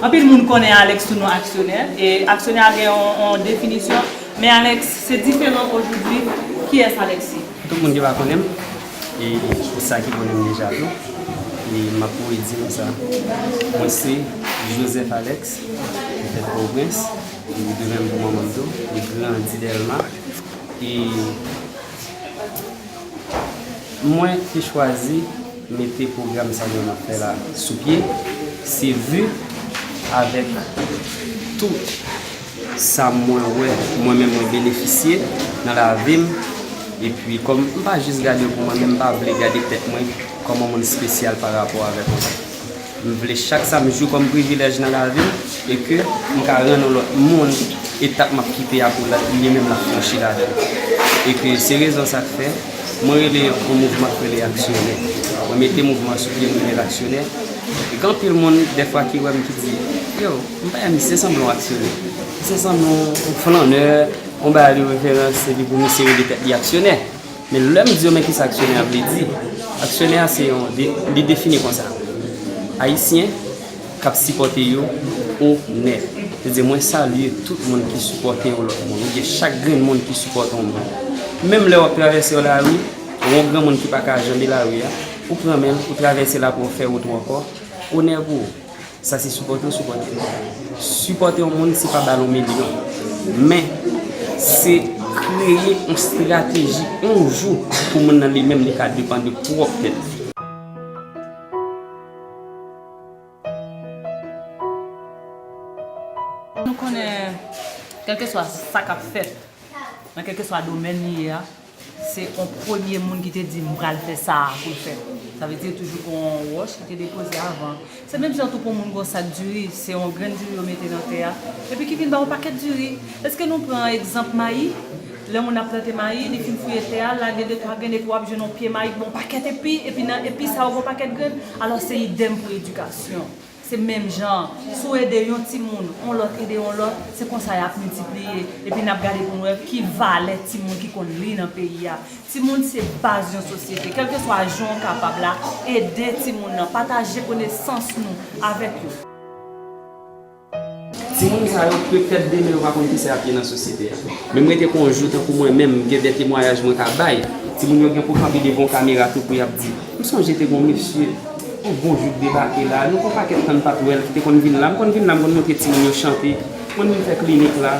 Anpil moun konnen Alex sou non aksyonè, e aksyonè a gen yon definisyon, men Alex se diferan ojoudwi, kiyès Alex ye? Tout moun deja konnen m, e ki sa ki konnen m deja tou, e m ap voye di nou sa, mwen se Joseph Alex, petèt Pòtoprens, e demen m pou manman m tou, e grandi Dèlma. E mwen te chwazi mete pwogram sa nou ap fè la sou pye, se vu avèk tout sa mwen wè mwen menm mwen benefisye nan lavi m, epi kòm m pa jis gade pou mwen men m pa vle gade tèt mwen kòm yon moun spesyal pa rapò avèk anpil. M vle chak sa m jwi kòm privilèj nan lavi m e ke m ka rann yon lòt moun etap m ap kite a pou li menm l ap franchi ladan l. E ke se rezon sa k fè mwen rele yon mouvman k rele aksyonè. Mwen mete mouvman an sou pye m rele l aksyonè e gen anpil moun dèfwa ki wè m ki di, yo, m pa wè misye se sanble yon aksyonè. Misye sanble yon flannè, yon bagay de referans epi pou misye rele tèt li aksyonè. Men lè m di yo men kisa aksyonè a vle di, aksyonè a se yon, li defini konsa, Ayisyen k ap sipòte yo onè. Se di mwen salye tout moun ki sipòte yon lòt moun oubyen chak grenn moun ki sipòte yon moun. Menm lè w ap travèse yon lari, wè yon granmoun ki pa ka janbe lari a, ou pran men l, ou travèse l apre w fè wout ou ankò, onè pou ou. Sa se sipòte ou sipòte l. Sipòte yon moun se pa ba l yon milyon. Men, se kreye yon strateji yon jou pou moun nan li menm li ka depann de pwòp tèt li. Nou konnen kèlkeswa sa k ap fèt nan kèlkeswa domèn li ye a. Se on premye moun ki te di m pral fè sa a pou l fè. Sa vle di toujou gen on wòch ki te depoze avan. Se menm jan tou pou moun gen on sak diri, se on grenn diri yo mete nan tè a, epi ki vin bay on pakèt diri. Eske nou pran egzanp mayi, lè moun ap plante mayi, li fin fouye tè a, l lage de twa grenn epi w ap jwenn on pye mayi ki gen on pakèt epi, epi nan epi sa yo gen on pakèt grenn. Alò se idèm pou edikasyon. Se menm jan an, si w ede yon timoun, yon lòt ede yon lòt, se konsa y ap miltipliye. Epi n ap gade pou n wè ki valè timoun ki konn li nan peyi a. Timoun se baz yon sosyete. Kèlkeswa jan w kapab la, ede timoun nan, pataje konesans nou avèk yo. Timoun sa yo pètèt demen yo pa konn kisa yap ye nan sosyete a. Men m rete kon jou tankou mwen menm m gen de temwayaj mwen ka bay. Timoun yo gen pou kanpe devan w kamera tou pou yap di, m sonje te gon mesye, yon bon jou k debake la, nou fè yon pakèt tan n pat wè l, ki te konn vin la. M konn vin la m konn montre timoun yo chante, m konn vin fè klinik la.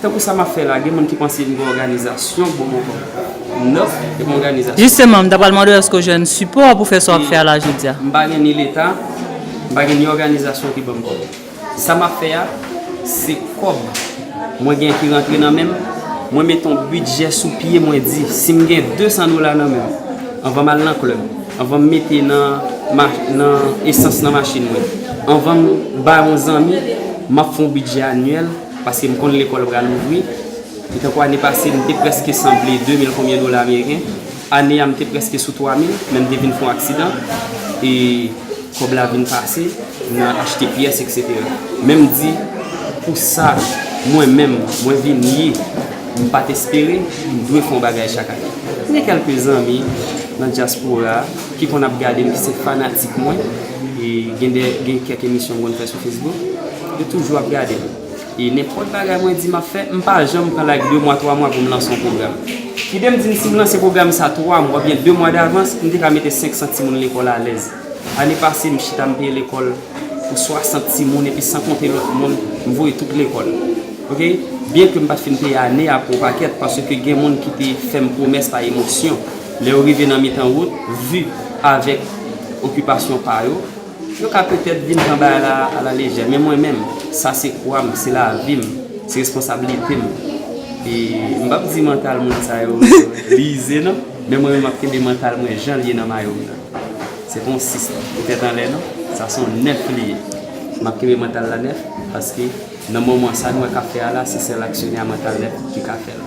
Tankou sa m ap fè la, gen moun ki panse m gen òganizasyon pou m ankò. Nòf, e m òganizasyon. Jisteman, m ta pral mande w èske w jwenn sipò pou fè sa w ap fè a la jodi a? M pa gen ni Leta, m pa gen ni òganizasyon ki ban m kòb. Sa m ap fè a, se kòb mwen gen ki rantre nan men m. Mwen mete yon bidjè sou pye, mwen di, si m gen 200 dola nan men m, anvan m al nan klèb, anvan m mete nan esans nan machin mwen, anvan m ba yon zanmi, m ap fè yon bidjè anyèl. Paske m konn lekòl pral ouvri. E tankou ane pase m te prèske sanble 2 mil konbyen dola ameriken. Ane a m te prèske sou 3 mil men m te vin fè yon aksidan e kòb la vin pase nan achte pyès eksetera. Men m di pou sa mwen menm mwen vin ye m pa t espere m dwe fè yon bagay chak ane. M gen kèlke zanmi nan dyaspora ki konn ap gade m ki se fanatik mwen e gen kèk emisyon m konn fè sou Facebook. Yo toujou ap gadem. E nenpòt bagay mwen di map fè, m pa janm pran like 2 mwa 3 mwa pou m lanse yon pwogram. Kidem di m si m lanse pwogram sa 3 mwa oubyen 2 mwa davans, m te ka mete 500 timoun lekòl alèz. Ane pase m chita m peye lekòl pou 60 timoun epi san konte lòt moun m voye tout lekòl. Ok. Byen ke m pat fin peye ane a pou yon pakèt paske gen moun ki te fè m pwomès pa emosyon. Lè yo rive nan mitan wout, vu avèk okipasyon pa yo, Nou ka petèt vin pran bagay la a la lejè, men mwen menm, sa se kwa m, se lavi m, se responsablite m. E m p ap di mantal moun sa yo li ize non, men mwen menm m ap kenbe mantal mwen jan l ye nan mayo m nan. Se pa yon 6 lan, li tèt anlè non, sa se yon 9 li ye. M ap kenbe mantal la 9, paske nan moman sa nou wè k ap fè a la, se sèl aksyonè a mantal 9 ki ka fè l.